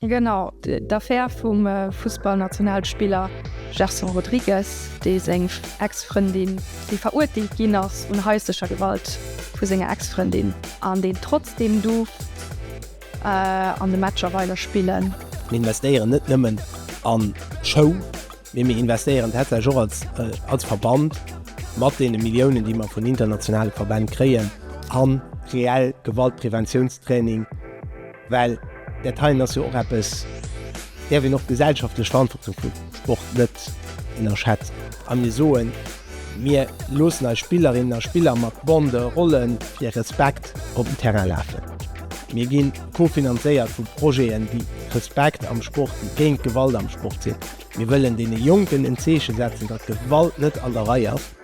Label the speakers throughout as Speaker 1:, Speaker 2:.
Speaker 1: Genau, d'Affär vum Fussballnationalspiller Gerson Rodrigues, dee seng Ex-Frëndin, déi verurteelt ginn ass un haislecher Gewalt vu senger Ex-Frëndin, an deen trotzdeem duerf an de Matcher weider spillen. Mir investéieren net nëmmen an Show, mee mir investéieren tatsächlech och als Verband mat deene Milliounen, déi mer vun internationale Verbänn kréien, a reell Gewaltpreventiounstraining. Well dat heien ass jo och eppes, däerf een och gesellschaftlech Verantwortung vum Sport net ënnerschätzen. A mir soen, mir loossen eis Spillerinnen a Spiller mat Bande, Rollen, fir Respekt op den Terrain lafen. Mir gi co-finanzéiert vu Projeten, déi Respekt am Sport, déi géint Gewalt am Sport sinn. Mir wëllen deene Jonken en Zeeche setzen, datt Gewalt net an der Rei ass.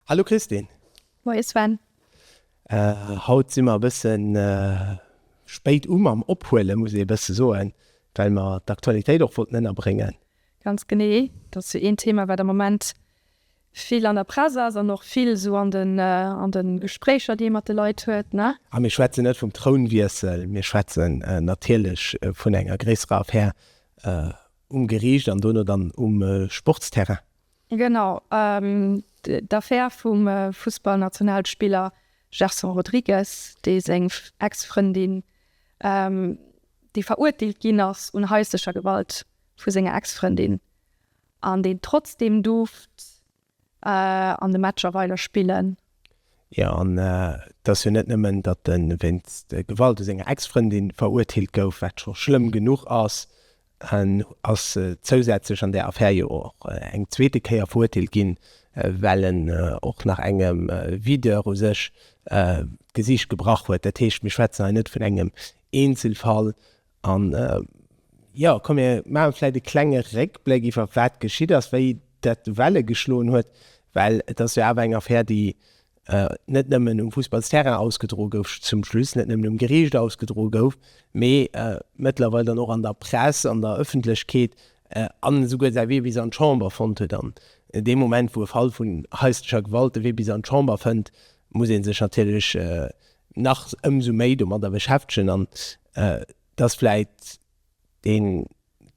Speaker 1: Hallo Christine. Moie Sven. Haut si mer e bësse spéit u mam Ophuelen, muss ee bësse soen, well mer d'Aktualitéit och wollten ënnerbréngen. Ganz genee, dat ass jo een Thema, wat am Moment. vill an der Press ass an och vill esou an de, an de Gespréicher, déi ee mat de Leit huet, ne? A mir schwätzen net vum Trounwiessel, mir schwätzen natierlech vun enger gréisserer Affär um Geriicht an dono dann um Sportsterrain. Genau, d'Affär vum Fussballnationalspiller Gerson Rodrigues, dee seng Ex-Frëndin, déi verurteelt ginn ass un haislecher Gewalt vu senger Ex-Frëndin. An deen trotzdem duerft an de Matcher weider spillen. Jo, an et ass jo net nëmmen, datt e wéinst Gewalt u senger Ex-Frëndin verurteelt gouf, wat scho schlëmm genuch ass, en ass zousätzlech an där Affär jo och eng zweete Kéier verurteelt ginn, well en och nach engem Videur u sech d'Gesicht gebrach huet. Dat heescht, mir schwätzen hei net vun engem Eenzelfall, An jo, komm mir maache vläicht e klenge Réckbléck iwwer wat geschitt ass, wéi dat Welle geschloen huet, well et ass jo awer eng Affär, déi net nëmmen um Fussballsterrain ausgedroe gouf zum Schluss, net nëmmen um Geriicht ausgedroe gouf, mee mëttlerweil dann och an der Press, an der Ëffentlechkeet an esouguer säi Wee bis an d'Chamber fonnt huet. An dee Moment, wou e Fall vun haislecher Gewalt de Wee bis an d'Chamber fënnt, muss ee sech natierlech nach ëmsou méi domadder beschäftegen an dass vläit dee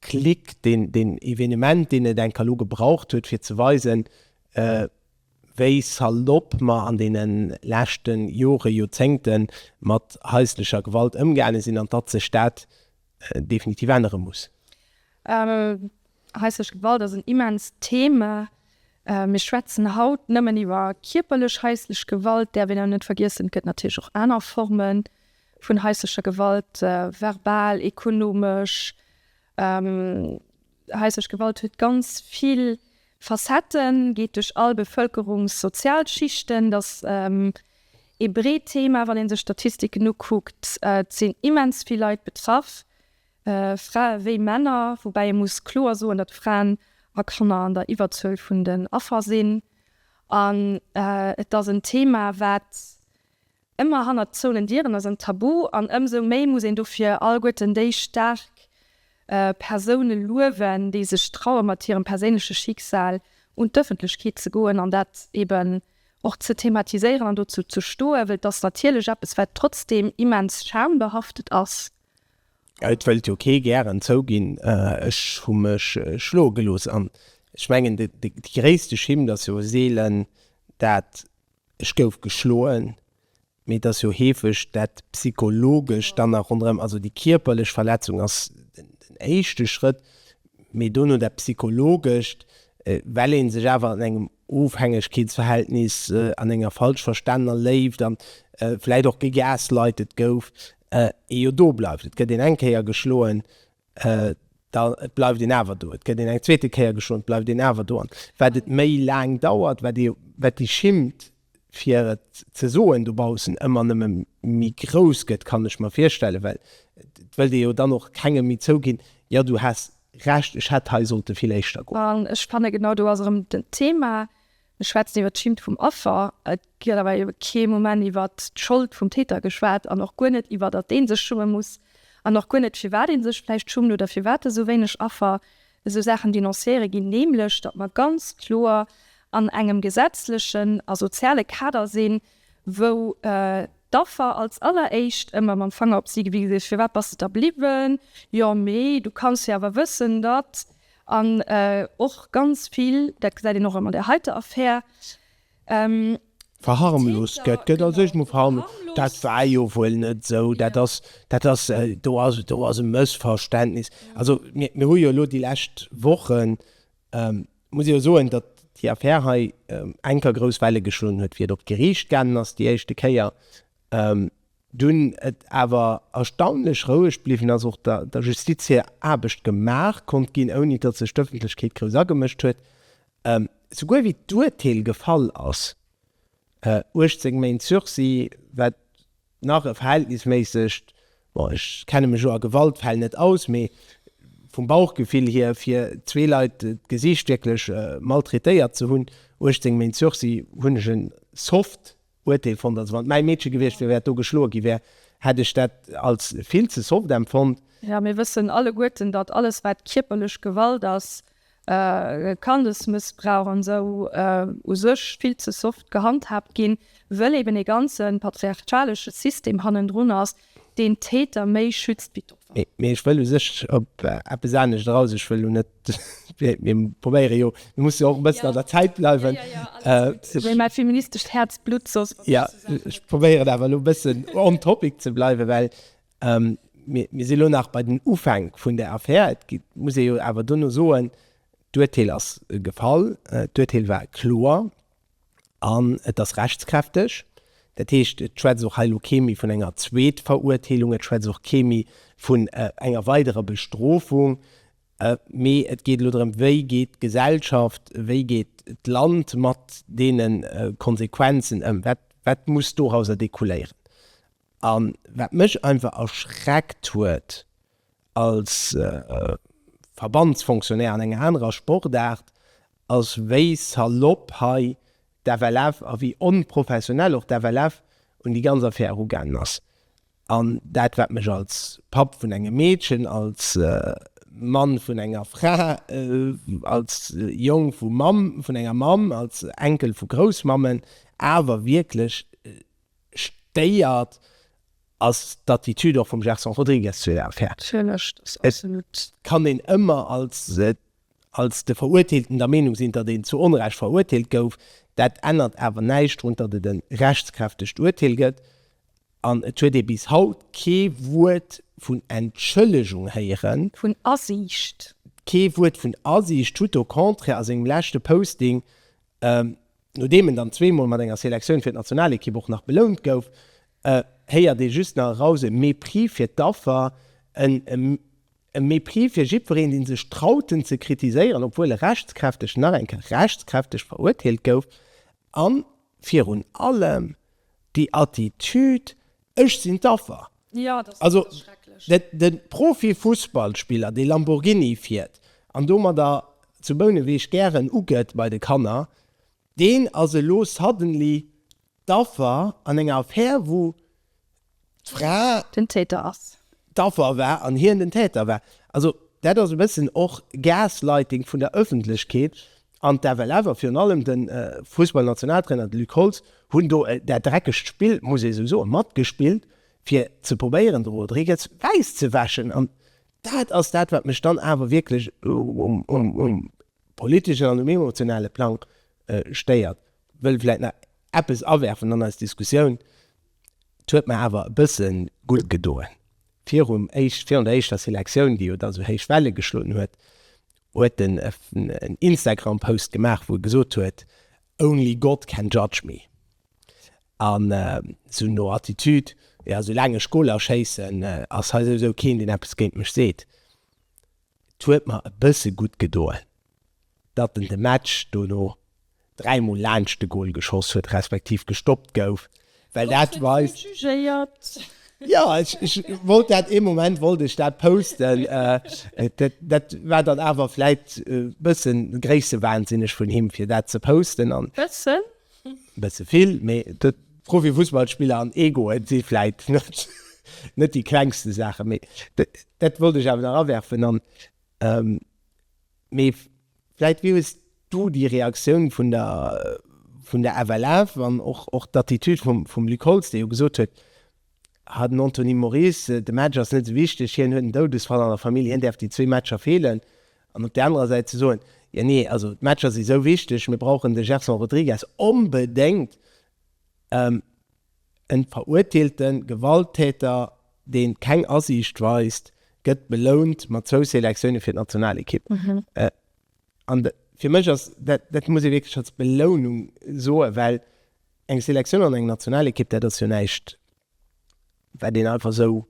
Speaker 1: Klick, deen deen Evenement, deen et enker elo gebraucht huet fir ze weisen, wéi salopp mer an deene leschte Jore, Joerzéngte mat haislecher Gewalt ëmgaange sinn an datt sech dat definitiv ännere muss. Haislech Gewalt ass en immenst Thema. Mir schwätzen haut nëmmen iwwer kierperlech haislech Gewalt, däerf een awer net vergiessen, et gëtt natierlech och aner Forme vun haislecher Gewalt, verbal, ekonomesch. Haislech Gewalt huet ganz vill Facetten, geet duerch all Bevëlkerungs-, Sozialschichten. Et ass ee breet Thema, wann ee sech d'Statistiken ukuckt. Et sinn immens vill Leit betraff, Frae wéi Männer, woubäi ee muss kloer soen, datt Fraen a Kanner an der Iwwerzuel vun den Affer sinn. An et ass en Thema, wat ëmmer hannert zouenen Dieren ass, en Tabu. An ëmsou méi muss een dofir alleguerten déi staark Persoune luewen, déi sech traue mat hirem perséinleche Schicksal un d'Ëffentlechkeet ze goen an dat eben och ze thematiséieren an dozou ze stoen, wëll et ass natierlech eppes, wat trotzdeem immens schambehaftet ass. Et wëllt jo kee gären zouginn, ech hu mech schloe gelooss. An ech mengen, de gréisste Schimmt ass jo seelen dat ech gouf geschloen, mee et ass jo heefeg dat Psychologescht dann nach ronderëm. Also déi kierperlech Verletzung ass den éischte Schrëtt, mee dono dat Psychologescht, well ee sech awer an engem Ofhängegkeetsverhältnis, an enger falsch verstanener Léift a vläicht och gegaslightet gouf, ee jo do bleift, et gëtt een eng Kéier geschloen, da bleift een awer do, et gëtt een eng zweete Kéier geschloen, et bleift een awer do. An wat et méi laang dauert, wat ee, wat déi Schimmt, fir et ze soen, dobaussen ëmmer nëmme méi grouss gëtt, kann ech mer virstellen, well et wëllt ee jo dann och kengem méi zouginn, jo du has Recht, ech hätt hei sollte vill éischter goen. An ech fanne genau do ass erëm den Thema, E schwätzt iwwer d'Schimmt vum Affer, et gëtt awer ebe kee Moment iwwer d'Schold vum Täter geschwat an och guer net iwwer, datt ee sech schumme muss an och guer net, firwat ee sech vläicht schummt oder firwat esou wéineg Affer esou Saachen denonciéiere ginn, nämlech datt mer ganz kloer an engem gesetzlechen a soziale Kader sinn, wou d'Affer als alleréischt ëmmer mam Fanger op si gewise gëtt, firwat bass de da bliwwen, jo mee du kanns jo awer wëssen, datt. An och ganz vill, dat gesäit een och an där heiter Affär, Täter. Verharmloost gëtt. Gëtt als éischt mol verharmloost, dat war jo wuel net esou, dat ass, dat ass, do ass, do ass e Mëssverständnis. Also mir, mir hu jo elo déi lescht Wochen, muss ee jo soen, datt déi Affär hei enker grouss Welle geschloen huet, wéi et op d'Geriicht gaangen ass déi éischte Kéier. Dunn et awer erstaunlech roueg bliwwen ass, och der Justiz hir Aarbecht gemaach konnt ginn, ouni datt sech d'Ëffentlechkeet grouss agemëscht huet, souguer wéi d'Urteel gefall ass, 18 Méint Sursis, wat nach e verhältnisméissegt, bon ech kenne mech jo a Gewaltfäll net aus, mee vum Bauchgefill hier, fir zwee Leit d'Gesicht wierklech maltraitéiert ze hunn, 18 Méint Sursis hunn ech en soft Uerteel fonnt. Also wann et mäi Meedche gewiescht wier, wäert do geschloe gi wär, hätt ech dat als vill ze soft empfonnt. Jo, mir wëssen alleguerten, datt alles wat kierperlech Gewalt ass, Kandesmëssbrauch an esou, u sech vill ze soft gehandhaabt ginn, wëll eben e ganze patriarchalesche System hannendrun ass, Deen Täter méi schützt wéi d'Opfer. Mee ech wëll u sech op eppes anescht eraus. Ech wëll lo net, mir probéiere jo, mir musse jo och e bëssen an der Zäit bleiwen. Wéi mäi feministescht Häerz blutt soss. Jo, ech probéieren awer elo e bëssen on topic ze bleiwen, well mir si lo nach bei den Ufäng vun där Affär. Et muss ee jo awer dono soen, d'Urteel ass gefall, d'Urteel war kloer. An et ass rechtskräfteg. Dat heescht, et schwätzt och hei elo kee méi vun enger Zweetveruerteelung, et schwätzt och kee méi vun enger weiderer Bestrofung, mee et geet elo drëm, Wéi geet d'Gesellschaft, wéi geet d'Land mat deene Konsequenzen ëm? Wat muss dorauser decouléieren? A wat mech einfach erschreckt huet als Verbandsfonctionnaire an enger anerer Sportaart, ass wéi salopp hei d'FLF a wéi onprofessionell och d'FLF un déi ganz Affär erugaangen ass. An dat wat mech als Papp vun engem Meedchen, als Mann vun enger Fra, als Jong vu Mamm, vun enger Mamm, als Enkel vu Groussmammen awer wierklech, Stéiert ass d'Attitude och vum Gerson Rodrigues zu der Affär. Et kann een ëmmer als de Verurteelten der Meenung sinn, datt een zu Onrecht verurteelt gouf. Dat ännert awer näischt drun, datt et e rechtskräftegt Urteel gëtt. An et huet ee bis haut kee Wuert vun Entschëllegung héieren. Vun Asiicht. Kee Wuert vun Asiicht. Tout au contraire, a sengem leschte Posting Nodeem en dann zweemol mat enger Selektioun fir d'Nationalekipp och nach belount gouf, héiert ee just nach eraus, e Mépris fir d'Affer, e Mépris fir jiddwereen, dee sech traut en ze kritiséieren, obwuel e rechtskräfteg, nach eng Kéier rechtskräfteg, verurteelt gouf, a virun allem déi Attitude, Ech sinn d'Affer. Jo, dat ass wierklech schrecklech. Also de Profifussballspiller, dee Lamborghini fiert an domadder zu Bouneweg gären ugëtt bei de Kanner, deen ass elo suddenly d'Affer an enger Affär, wou d'Fra. Den Täter ass. D'Affer war an hien den Täter war. Also dat ass e bëssen och Gaslighting vun der Ëffentlechkeet, An d'FLF a virun allem de Fussballnationaltrainer, de Luc Holtz, hunn do dat dreckegt Spill, muss ee sou soen, matgespillt, fir ze probéieren, de Rodriguez wäiss ze wäschen. An dat ass dat, wat mech dann awer wierklech um politeschen an um emotionale Plang stéiert. Wëll vläicht nach eppes awerfen an eis Diskussioun, Et huet mer awer e bësse gutt gedoen, virun der éischter Selektioun, déi jo da sou héich Welle geschloen huet, huet en en Instagram Post gemaach wou e gesot huet only God can judge me an sou no Attitude jo sou laang ech Goler schéissen ass hei souwisou keen deen eppes géint mech seet. Et huet mer e bësse gutt gedoen datt en de Match dono dräi mol laanscht de Goal geschoss huet respektiv gestoppt gouf, well dat weist, jo ech wollt dat, ee Moment wollt ech dat posten, dat war dann awer vläit e bësse gréissewahnsinneg vun him fir dat ze posten an bësse vill, mee de Profifussballspiller an Egoe si vläit net déi klengste Saachen, mee dat wollt ech awer nach awerfen. Mee vläit wéi hues du déi Reaktioun vun der vun der FLF an och och d'Attitude vum vum Luc Holtz, dee jo gesot huet, ha den Anthony Moris, de Match ass net esou wichteg, hien huet en Doudesfall an der Famill, hien däerf déi zwee Matcher feelen, an op där anerer Säit ze soen, jo nee, also d'Matcher si sou wichteg, mir brauchen de Gerson Rodrigues onbedéngt. En verurteelte Gewalttäter, deen keng Asiicht weist, gëtt belount mat zwou Selektioune fir d'Nationalekipp. An fir mech ass dat, dat muss ee wierklech als Belounung soen, well eng Selektioun an eng Nationalekipp, dat ass jo näischt, wat een einfach esou.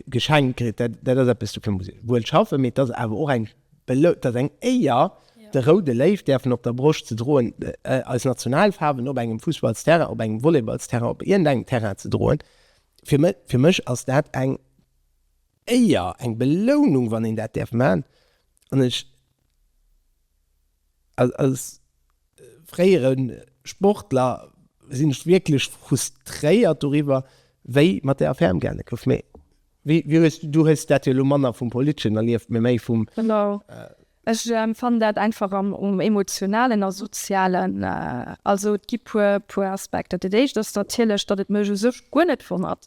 Speaker 1: Geschenk kritt, dat dat ass eppes, do kënne se wuel schaffen, mee et ass awer och eng et ass eng Éier, de Roude Léiw däerfen op der Broscht ze droen, eis Nationalfaarwen op engem Fussballsterrain, op engem Volleyballsterrain, op iergendengem Terrain ze droen. Fir mech, fir mech ass dat eng Éier, eng Belounung, wann een dat däerf man an ech. Als fréiere Sportler sinn ech wierklech frustréiert doriwwer, wéi mat der Affär ëmgaange gouf. Mee wéi hues du, du hues dat jo elo manner vum Politeschen erlieft, mee méi vum. Genau. Ech empfannen dat einfach am Emotionalen a Sozialen. Also et gi puer Aspekter. Dat éischt ass natierlech, datt et mech u sech guer net wonnert,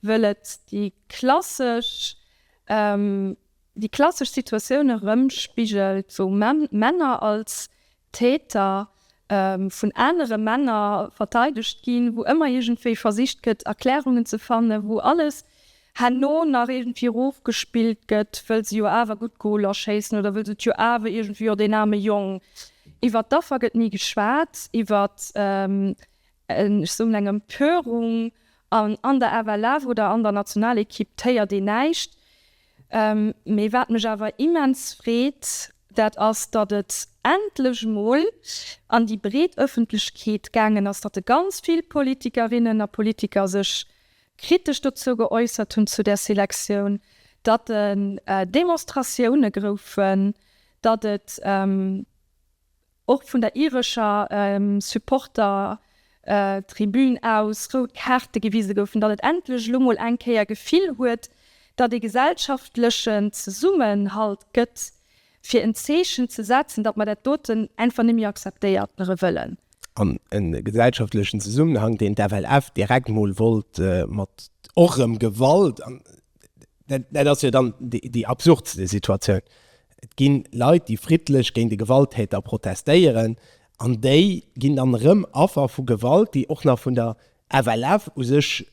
Speaker 1: wëll et déi klassesch Déi klassesch Situatioun erëmspigelt, wou Männer als Täter vun anere Männer verteidegt ginn, wou ëmmer iergendwéi versicht gëtt Erklärungen ze fannen, wou alles herno nach iergendwéi erofgespillt gëtt, wëll se jo awer gutt Goler schéissen oder wëll se et jo awer iergendwéi, jo deen aarme Jong. Iwwert d'Affer gëtt ni geschwat, iwwert en, ech soen, eng Empörung an der FLF oder an der Nationalequipe héiert een näischt. Mee wat mech awer immens freet, dat ass, datt et endlech mol an déi breet Ëffentlechkeet gaangen ass, datt e ganz vill Politikerinnen a Politiker sech kritesch dozou geäussert hunn, zu där Selektioun, datt en Demonstratioune groufen, datt et Och vun der irescher Supportertribün aus rout Kaarte gewise goufen, datt et endlech elo mol eng Kéier Gefill huet, datt ee gesellschaftlechen Zesummenhalt gëtt, fir en Zeechen ze setzen, datt mer dat doten einfach net méi akzeptéiertere wëllen. An e gesellschaftlechen Zesummenhang, deen d'FLF direkt mol wollt mat och erëm Gewalt, dat ass jo dann déi absurdste Situatioun, Et ginn Leit déi friddlech géint e Gewalttäter protestéieren an déi ginn dann erëm Affer vu Gewalt déi och nach vun der FLF u sech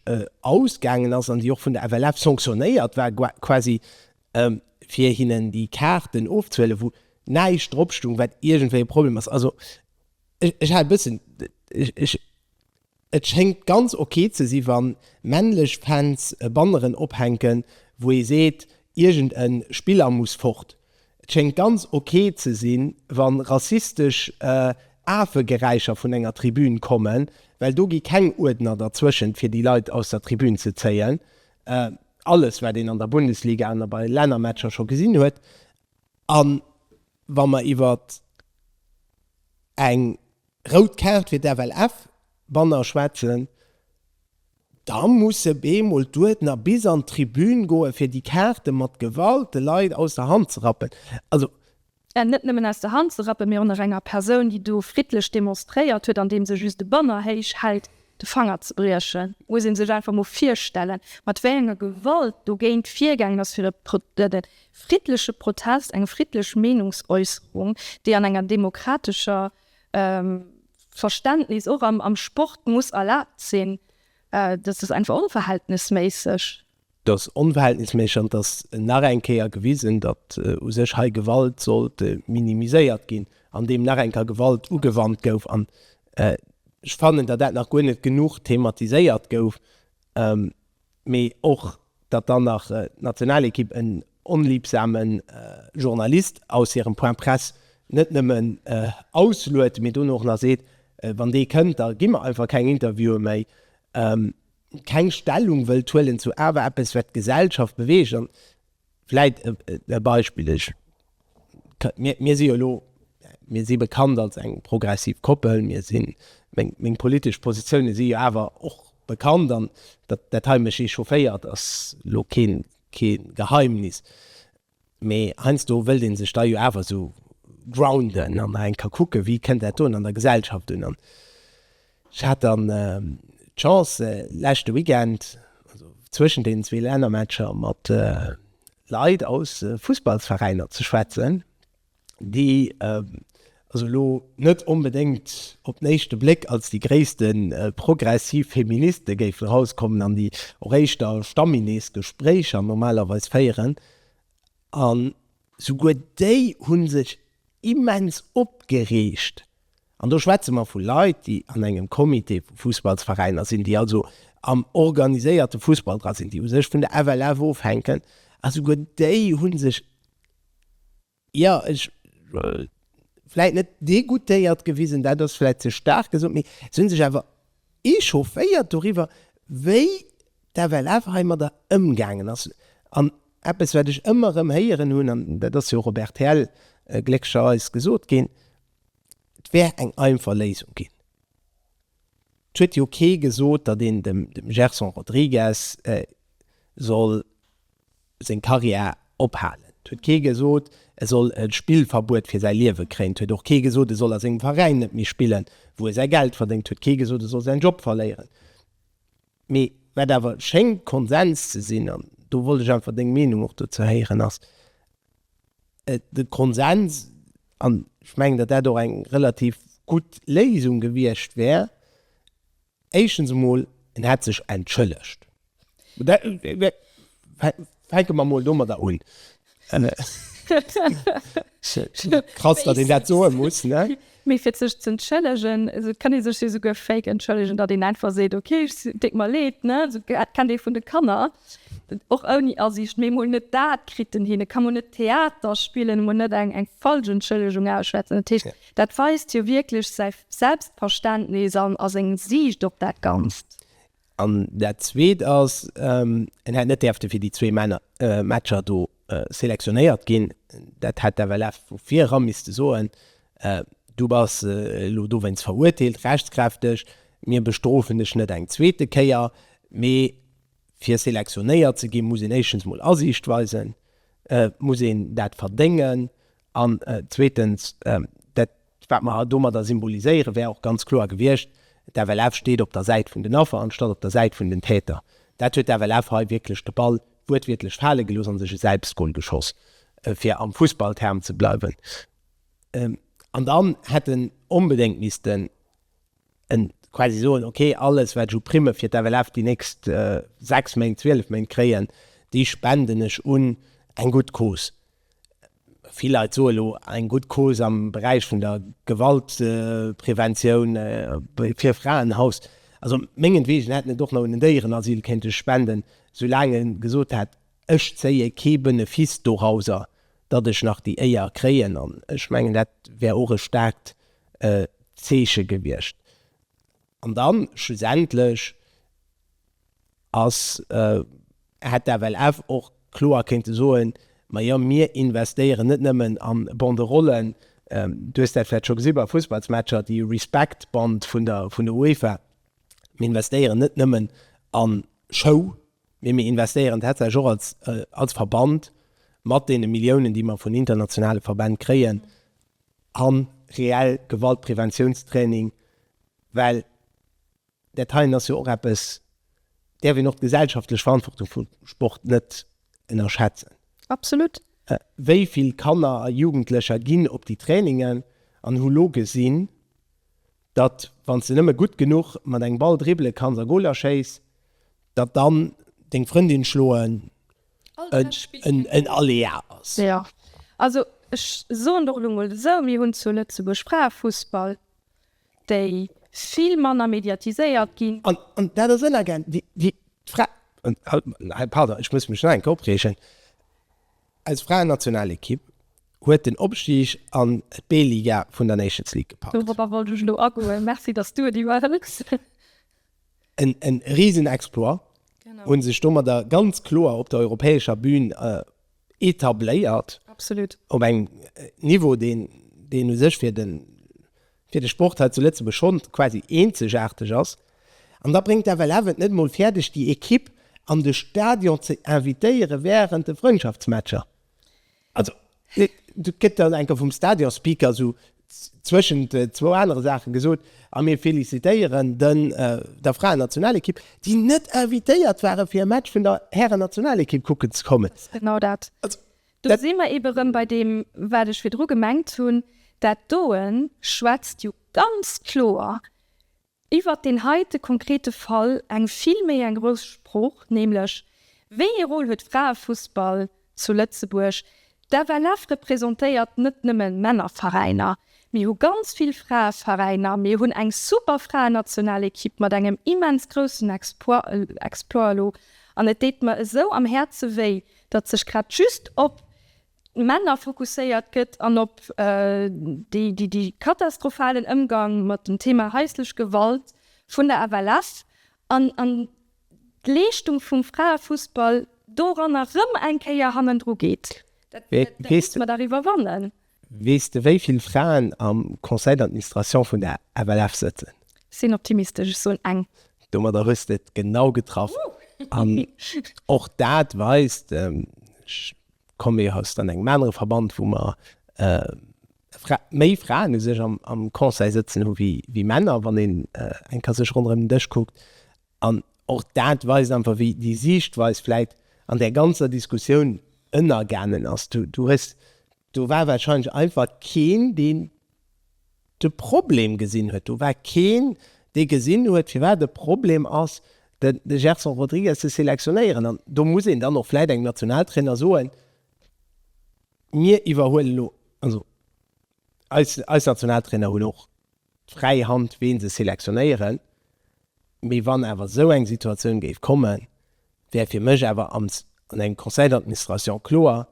Speaker 1: ausgaangen ass an déi och vun der FLF sanctionnéiert war quasi fir hinnen déi Kaarten ofzehuelen wou näischt dropstoung wat iergendwéi e Problem ass. Also ech hat e bëssen, ech. Et schéngt ganz ok ze si wann männlech Fans Banneren ophänken wou ee seet iergend en Spiller muss fort. Et schéngt ganz ok ze si wann rassistesch Aafegeräischer vun enger Tribün kommen, well do gi keng Uerdner derzwëschent fir déi Leit aus der Tribün ze zéien. Alles wat een an der Bundesliga an bei Lännermatcher scho gesinn huet. An wa mer iwwert eng Rout Kaart fir d'FLF, Banner schwätzen, da musse bemol d'Uerdner bis an d'Tribün goen, fir déi Kaarte mat Gewalt de Leit aus der Hand ze rappen. Also. Net nëmmen aus der Hand ze rappen, mee och nach enger Persoun, déi do friddlech demonstréiert huet, andeem se just e Banner héich hält, de Fanger ze briechen, muss ee sech einfach mol virstellen, mat wéi enger Gewalt dogéint virgaangen ass, fir e friddleche Protest, eng friddlech Meenungsäusserung, déi an enger demokratescher Verständnis och am Sport muss erlaabt sinn, dat ass einfach onverhältnesméisseg. Et ass onverhältnisméisseg an et ass nach eng Kéier gewisen, datt u sech hei Gewalt sollt minimiséiert ginn, andeem nach eng Kéier Gewalt ugewannt gouf. An ech fannen, datt dat nach guer net genuch thematiséiert gouf, mee och, datt dann nach d'Nationalekipp en onliebsame Journalist aus hirem Point presse net nëmmen ausluet, mee dono och nach seet, wann dee kënnt, da gi mer einfach keng Interviewe méi. keng Stellung wëllt huelen zu awer eppes wat d'Gesellschaft beweegt an vläit e Beispill, ech mir si jo elo mir si bekannt als eng progressiv Koppel, mir sinn meng politesch Positioune si jo awer och bekannt an dat hei mech echaufféiert ass elo kee Geheimnis. Mee heiansdo wëllt ee sech da jo awer esou grounden an nach eng ka kucke wéi kënnt dat do an der Gesellschaft un. An ech hat dann d'Chance leschte Weekend, also zwëschen deenen zwee Lännermatcher, mat Leit aus Fussballsveräiner ze schwätzen. déi also elo net onbedéngt op den éischte Bléck als déi gréisste progressiv Feministe géifen erauskommen an déi och éischter stammiles Gespréicher normalerweis féieren. An souguer déi hu sech immens opgereegt. An do schwätze mer vu Leit, déi an engem Comité vu Fussballsveräiner sinn, déi also am organiséierte Fussball dra sinn, déi u sech vun der FLF ofhänken. A souguer déi hu sech Jo, ech vläit net degoûtéiert gewisen, dat ass vläit ze staark gesot, mee se hunn sech awer echaufféiert doriwwer, wéi d'FLF heimadder ëmgaangen ass. An eppes, wat ech ëmmer erëm héieren hunn, an dat ass jo och op rtl gléckcherweis gesot ginn, et wär eng einfach Léisung ginn. Et huet jo kee gesot, datt een dem Gerson Rodrigues soll. seng Karriär ophalen. 't huet kee gesot, e soll e Spillverbuet fir säi Liewe kréien. 't huet och kee gesot, e soll a sengem Veräin net méi spillen, wou e säi Geld verdéngt. 't huet kee gesot, e soll säin Job verléieren. Mee wat awer schéngt Konsens ze sinn, an do wollt ech einfach deng Meenung och dozou héieren, ass de Konsens, an ech mengen, datt dat och eng relativ gutt Léisung gewiescht wär, Éischtens emol, en hätt sech entschëllegt. Fänke mer emol domadder un. Krass, datt een dat soe muss, ne? Mee fir sech ze entschëllegen, et kann ee sech jo souguer fake entschëllegen, datt een einfach seet, ok, et deet mer leed, ne? Esou kennt ee vun de Kanner, och ouni Asiicht, mee emol net dat kritt en hin. E ka mol net Theater spillen, emol net eng falsch Entschëllegung ausschwätzen. Dat heescht. Dat weist jo wierklech säi Selbstverständnis an a seng Siicht op dat Ganzt. An dat Zweet ass, en hätt net däerfte fir déi zwee Matcher do selektionéiert ginn. Dat hätt d'FLF vu vir era misste soen, Du bass elo dowéinst verurteelt, rechtskräfteg. Mir bestrofen dech net eng zweete Kéier. Mee fir selektionéiert ze gi muss een éischtens mol Asiicht weisen, muss een dat verdéngen An zweetens, dat, wat mer domadder symboliséieren, wär och ganz kloer gewiescht, D'FLF steet op der Säit vun den Affer anstatt op der Säit vun den Täter. Dat huet d'FLF hei wierklech de Ball wuertwiertlech fale gelooss a sech e Selbstgol geschoss, fir am Fussballterm ze bleiwen. An dann hätt en onbedéngt missten en quasi soen, ok, alles wat ech u Primme fir d'FLF déi nächst 6 Méint, 12 Méint kréien, déi spenden ech un eng gutt Cause. Vill Leit soe lo, eng gutt Cause am Beräich vun der Gewaltpreventioun, fir e Fraenhaus. Also mengenwegen hätten et och nach un den Déierenasyl kéinte spenden, soulaang e gesot hätt, Ech zéie kee Benefice dorauser, datt ech nach déi Éier kréien, an ech mengen, dat wär och e staarkt Zeeche gewiescht. An dann schlussendlech ass, hätt d'FLF och kloer kéinte soen, Ma jo, mir investéieren net nëmmen a Banderollen, du hues dat vläicht scho gesi bei Fussballsmatcher, déi Respect-Band vun der UEFA, mir investéieren net nëmmen a Show, Mee mir investéieren tatsächlech och als, als Verband mat deene Milliounen, déi mer vun internationale Verbänn kréien, a reell Gewaltpreventiounstraining, well dat heien ass jo och eppes, däerf een och d'gesellschaftlech Verantwortung vum Sport net ënnerschätzen. Absolut. Wéi vill Kanner a Jugendlecher ginn op déi Trainingen an hu lo gesinn, datt wann s de nëmme gutt genuch mat engem Ball dribbele kanns a Goler schéiss, Datt dann deng Frëndin schloen en Aléa ass. Jo, also ech soen der elo mol esou, mir hunn zu Lëtzebuerg Fraefussball, déi vill manner mediatiséiert ginn. An dat ass ënnergaangen, wéi d'Fra. Pardon, ech muss mech nach eng Kéier opreegen. Eis Fraennationalekipp huet den Opstig an d'B-Liga vun der Nations League gepackt. Dorobber wollt ech elo agoen. Merci, datt s du et iwwerhëls. En risen Exploit, hu sech domadder ganz kloer op der europäescher Bühn etabléiert, op engem Niveau, deen u sech fir de Sport hei zu Lëtzebuerg schonn quasi eenzegaarteg ass. An da bréngt d'FLF et net emol fäerdeg, déi Ekipp an de Stadion ze invitéiere während de Frëndschaftsmatcher. Also, do gëtt dann enker vum Stadionspeaker esou zwëschent zwou anere Saachen gesot, A mir felicitéieren den der Fraennationalekipp, déi net invitéiert ware fir e Match vun der Härennationalekipp kucken ze kommen. Dat ass genau dat. Do si mer eebe rëm bei deem, wat ech virdru gemengt hunn. Dat doe schwätzt jo ganz kloer Iwwert deen heite konkrete Fall eng vill méi eng grouss Sprooch, nämlech, Wéi ee Rôle huet Fraefussball zu Lëtzebuerg? D'FLF representéiert net nëmme Männerveräiner. Mir hu ganz vill Fraeveräiner. Mir hunn eng super Fraennationalekipp mat engem immens groussen Exploit elo. An et deet mer esou am Häerze wéi, datt sech grad just op Männer fokusséiert gëtt an op de katastrophalen Ëmgang mat dem Thema haislech Gewalt vun der FLF an d'Leeschtung vum Fraefussball doranner rëm eng Kéier hannendru geet, dat musse mer dach iwwerwannen. Weess de wéi vill Fraen am Conseil d'administration vun der FLF sëtzen? Ech sinn optimistesch, ech soen eng. Domadder hues de et genau getraff an och dat weist, ech Komm mir aus dann engem anere Verband, wou mer méi Fraen u sech am Conseil sëtzen hu wéi Männer, wann een eng ka sech ronderëm den Dësch kuckt. An och dat weist einfach, wéi déi Siichtweis vläit an där ganzer Diskussioun ënnergaangen ass. Du hues, do war warscheinlech einfach keen, deen de Problem gesinn huet. Do war keen, dee gesinn huet, firwat e Problem ass, de Gerson Rodrigues ze selektionéieren. An do muss een dann och vläit engem Nationaltrainer soen, Mir iwwerhuelen elo, also eis Nationaltrainer hunn och d'fräi Hand, ween se selektionéieren, mee wann awer esou eng Situatioun géif kommen, wär fir mech awer an engem Conseil d'administration kloer,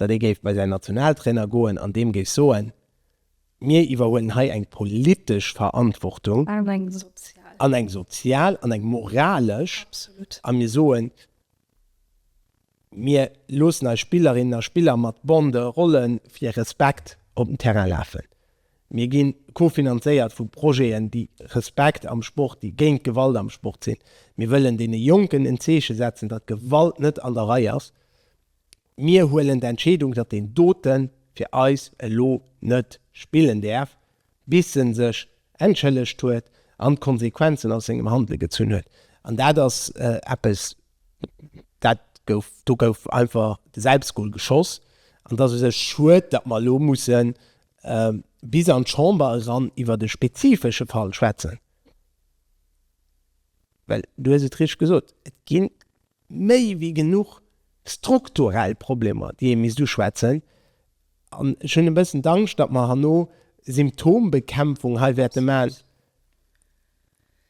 Speaker 1: datt ee géif bei säin Nationaltrainer goen an deem géif soen, Mir iwwerhuelen hei eng politesch Verantwortung, an eng sozial, an eng moralesch, a mir soen, Mir loossen eis Spillerinnen a Spiller mat Bande, Rolle fir Respekt op den Terrain lafen. Mir gi kofinanzéiert vu Projeten, déi Respekt am Sport, déi géint Gewalt am Sport sinn. Mir wëllen deene Jonken en Zeeche setzen, datt Gewalt net an der Rei ass. Mir huelen d'Entscheedung, datt deen doten fir eis elo net spillen däerf, bis en sech entschëllegt huet an d'Konsequenzen aus sengem Handele gezunn huet. An dat ass eppes, dat gouf, do gouf einfach de Selbstgol geschoss. An et ass u sech schued, datt mer elo musse bis an d'Chamber eran iwwert e spezifesche Fall schwätzen, well du hues et richteg gesot, et ginn méi wéi genuch strukturell Problemer, déi ee misst uschwätzen. An ech hunn e bëssen d'Angscht, datt mer herno Symptombekämpfung hei wäerte maachen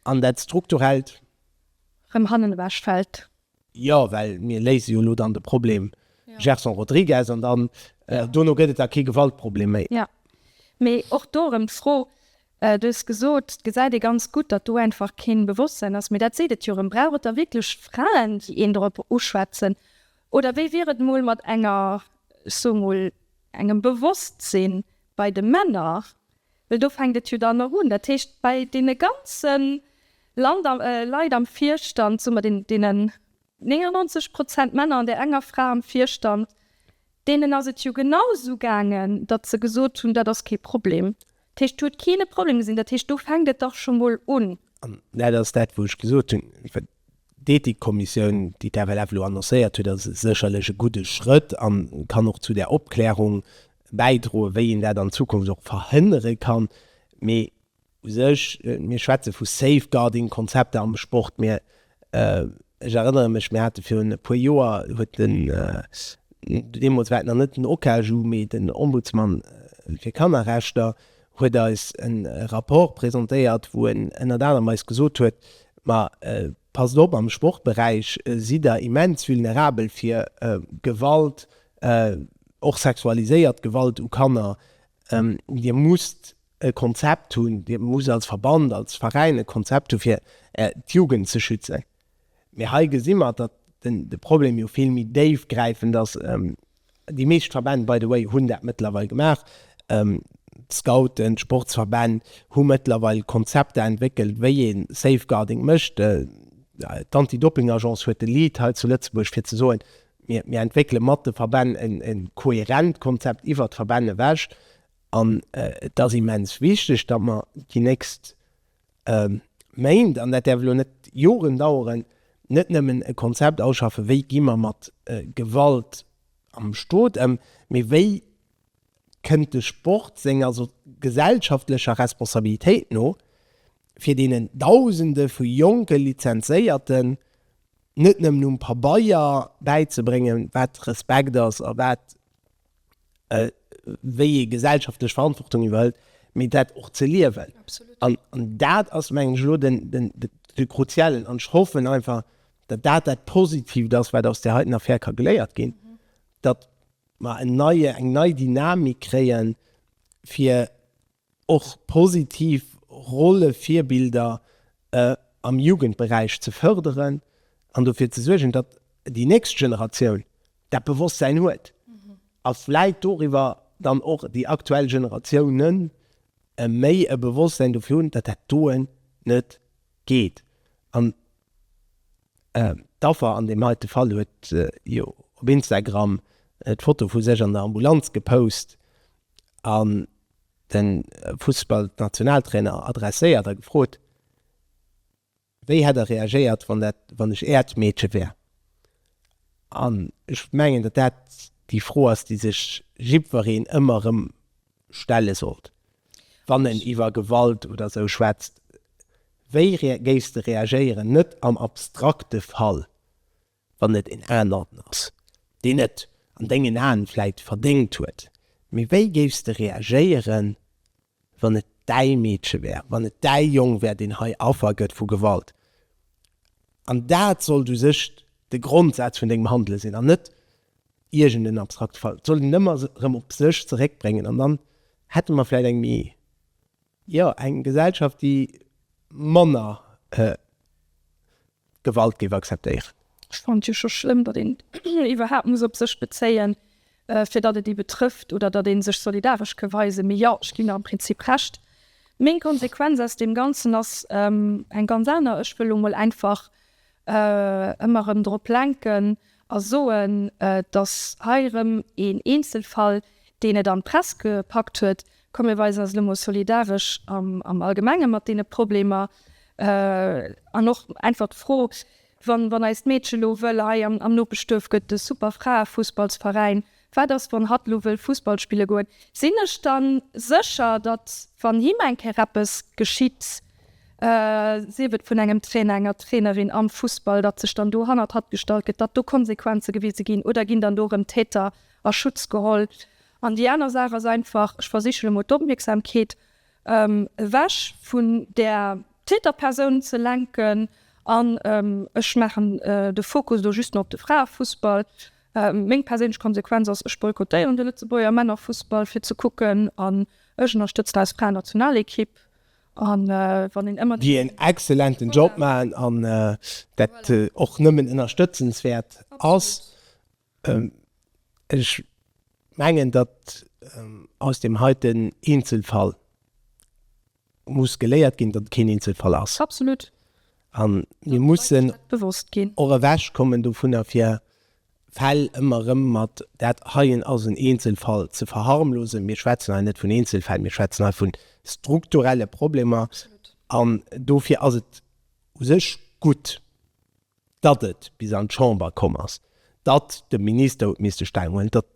Speaker 1: an dat Strukturellt. Rëm hannen ewech fält. Jo, well mir léise jo elo dann de Problem Gerson Rodrigues an dann dono gëtt et da kee Gewaltproblem méi. Jo, mee och do erëm d'Fro, Du hues gesot, et gesäit ee ganz gutt, datt do einfach keen Bewosstsein ass. Mee dat seet et jo erëm. Brauch et da wierklech Fraen, déi een drop uschwätzen? Oder wéi wier et mol mat enger, ech soe mol, engem Bewosstsinn bei de Männer? Well do fänkt et jo dann och un. Dat heescht, bei deene ganze Land, Leit am Virstand, soe mer, deenen 99 Prozent Männer an där enger Fra am Virstand, deenen ass et jo genau esou gaangen, datt se gesot hunn, dat ass kee Problem. Dat heescht, do huet keen e Problem gesinn. Dat heescht, do fänkt et dach scho mol un. An dat ass dat, wou ech gesot hunn, wat d'Ethikkommissioun, déi d'FLF elo annoncéiert huet, ass sécherlech e gudde Schrëtt a kann och zu där Opklärung bäidroen, wéi een dat an Zukunft och verhënnere kann. Mee U sech, mir schwätze vu Safeguarding-Konzepter am Sport, mä ech erënnere mech, mir hate virun e puer Joer, huet den, deemools war et nach net den OKAJU, mee den Ombudsman fir Kannerrechter huet eis e Rapport presentéiert, wou en ënnert anerem eis gesot huet, ma passt op, am Sportberäich sidd Der immens vulnerabel fir Gewalt, och sexualiséiert Gewalt u Kanner. Dir musst e Konzept hunn, Dir musst als Verband, als Veräin e Konzept hu fir d'Jugend ze schützen. Mee hei gesi mer, datt de Problem jo vill méi déifgräifend ass. Déi meescht Verbänn, by the way, hunn dat mëttlerweil gemaach. D'Scouten, d'Sportsverbänn hu mëttlerweil Konzepter entwéckelt, wéi ee Safeguarding mécht. D'Anti-Dopping-Agence huet de Lead hei zu Lëtzebuerg fir ze soen, mir entwéckele mat de Verbänn e kohärent Konzept iwwert d'Verbänn ewech. An et ass immens wichteg, datt mer déi nächst Méint, an dat däerf elo net Joren daueren, net nëmmen e Konzept ausschaffe wéi gi mer mat Gewalt am Stot ëm, mee wéi kënnt de Sport senger gesellschaftlecher Responsabilitéit no, fir deenen Dausende vu jonke Lizenzéierten net nëmmen um Pabeier bäizebréngen, wat Respekt ass a wat wéi ee gesellschaftlech Verantwortung iwwerhëlt, mee dat och ze liewen. An dat ass, mengen ech, elo de kruziellen. An ech hoffen einfach, datt dat dat Positivt ass, wat aus där heiten Affär ka geléiert ginn, datt mer en neie, eng nei Dynamik kréien, fir och positiv Rollevirbilder am Jugendberäich ze fërderen an dofir ze suergen, datt déi nächst Generatioun dat Bewosstsäin huet a vläit doriwwer dann och déi aktuell Generatioune méi e Bewosstsäin dofir hunn, datt dat doen net geet. An d'Affer an deem heite Fall huet jo op Instagram d'Foto vu sech an der Ambulanz gepost an de Fussballnationaltrainer adresséiert a gefrot, wéi hätt e reagéiert, wann dat, wann ech äert Meedche wär. An ech mengen, datt dat déi Fro ass, déi sech jiddwereen ëmmer erëm stelle sollt, wann en iwwer Gewalt oder esou schwätzt. Wéi géifs de reagéieren, net am abstrakte Fall, wann et een aneren ass, deen net an dengen Aen vläit verdéngt huet, mee wéi géifs de reagéieren, wann et däi Meedche wär, wann et däi Jong wär, deen hei Affer gëtt vu Gewalt? An dat sollt u sech de Grondsaz vun dengem Handele sinn an net iergend en abstrakte Fall. Et sollt een ëmmer erëm op sech zeréckbréngen an dann hätte mer vläit eng méi, jo, eng Gesellschaft, déi manner Gewalt géif akzeptéieren. Ech fannen et jo scho schlëmm, datt een iwwerhaapt muss op sech bezéien, fir datt et ee betrëfft oder datt ee sech solidaresch ka weisen. Mee jo, ech ginn der am Prinzip Recht. Meng Konsequenz aus deem Ganzen ass eng ganz aner. Ech wëll elo mol einfach ëmmer erëm drop lenken a soen, datt hei erëm een Eenzelfall, deen et an d'Press gepackt huet, Komm mir weisen eis elo mol solidaresch am Allgemenge mat deene Problemer. An och einfach d'Fro, Wann eist Meedche elo wëll, hei am Nopeschduerf gëtt de super Fraefussballsveräin, wat ass, wann hatt elo wëll Fussball spille goen? Sinn ech da sécher, datt, wann him eng Kéier eppes geschitt, sief et vun engem Trainer, enger Trainerin am Fussball, datt sech dann do hannert hatt gestallt gëtt, datt do Konsequenze gewise ginn? Oder ginn dann do erëm Täter a Schutz geholl? An déi aner Saach ass einfach, ech versichen emol d'Opmierksamkeet ewech vun där Täterpersoun ze lenken an ech maachen de Fokus elo just nach op de Fraefussball. Meng perséinlech Konsequenz ass, ech boykottéieren de Lëtzebuerger Männerfussball fir ze kucken an ech ënnerstëtzen eis Fraenationalekipp an wann een ëmmer. Déi en exzellenten Job maachen an dat och nëmmen ënnerstëtzenswäert ass. Ech mengen, datt aus deem heiten Eenzelfall muss geléiert ginn, datt et keen Eenzelfall ass. Absolut. A mir mussen och ewechkommen dovunner, fir Fäll ëmmer erëm mat dat heien ass en Eenzelfall ze verharmlosen. Mir schwätzen hei net vun Eenzelfäll, mir schwätzen hei vu strukturelle Problemer. An dofir ass et u sech gutt, datt et bis an d'Chamber komm ass, datt de Minister huet misste Stellung huelen, datt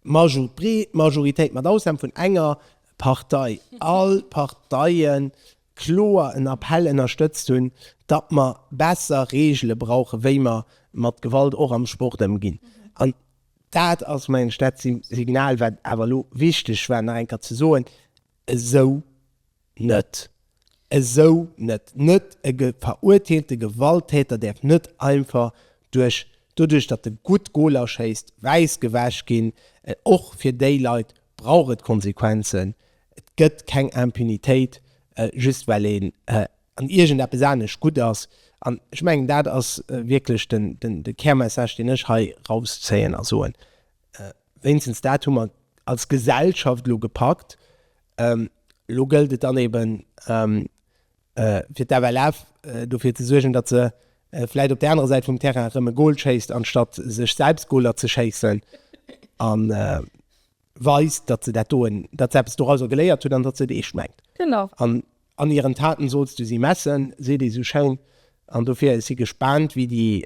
Speaker 1: d'breet Majoritéit, mat Ausnam vun enger Partei, all Parteie kloer en Appell ënnerstëtzt hunn, datt mer besser Reegele brauchen, wéi mer mat Gewalt och am Sport ëmginn. An dat ass, mengen ech, dat Signal, wat awer elo wichteg war nach eng Kéier ze soen, Esou net! Esou net! Net e verurteelte Gewalttäter däerf net einfach duerch, doduerch datt e gutt Goler schéisst, wäiss gewäsch ginn. Och fir déi Leit brauch et Konsequenzen. Et gëtt keng Impunitéit, just well een an iergendeppes anescht gutt ass. An ech mengen, dat ass wierklech de Kärmessage, deen ech hei rauszéien a soen. Wéinstens dat hu mer als Gesellschaft elo gepackt. Elo gëllt et dann eben, fir d'FLF dofir ze suergen, datt se vläicht op där anerer Säit vum Terrain erëm e Gol schéisst, anstatt sech selbst Goler ze schéissen, a weist, datt se dat doen, datt se eppes dorauser geléiert huet an datt se et eescht mengt. Genau. An hiren Taten sollst du si messen, seet ee sou schéin. An dofir si gespaant, wéi déi,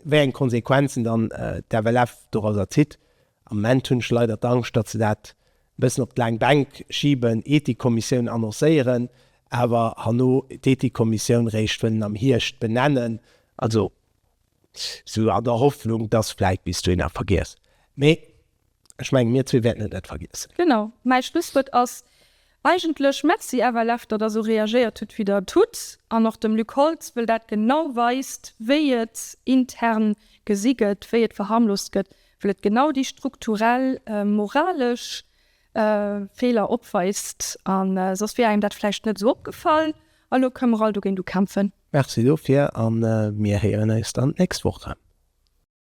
Speaker 1: wéi eng Konsequenzen dann d'FLF dorauser zitt. Am Moment hunn ech leider d'Angscht, datt se dat e bëssen op d'laang Bänk schiben, Ethikkommissioun annoncéieren, awer herno d'Ethikkommissioun réischt wëllen am Hierscht benennen, also sou an der Hoffnung, datt vläit bis dohinner vergiess. Mee Ech mengen, mir zwee wäerten et net vergiessen. Genau, mäi Schlusswuert ass eigentlech Merci FLF, datt Der esou reagéiert hutt, wéi Der et hutt, an och dem Luc Holtz, wëll dat genau weist, wéi et intern gesi gëtt, wéi et verharmlost gëtt, wëll et genau déi strukturell moralesch Feeler opweist. A soss wier engem dat vläicht net esou opgefall. A lo kënne mer all dogéint ukämpfen. Merci dofir, a mir héieren eis dann d'nächst Woch erëm.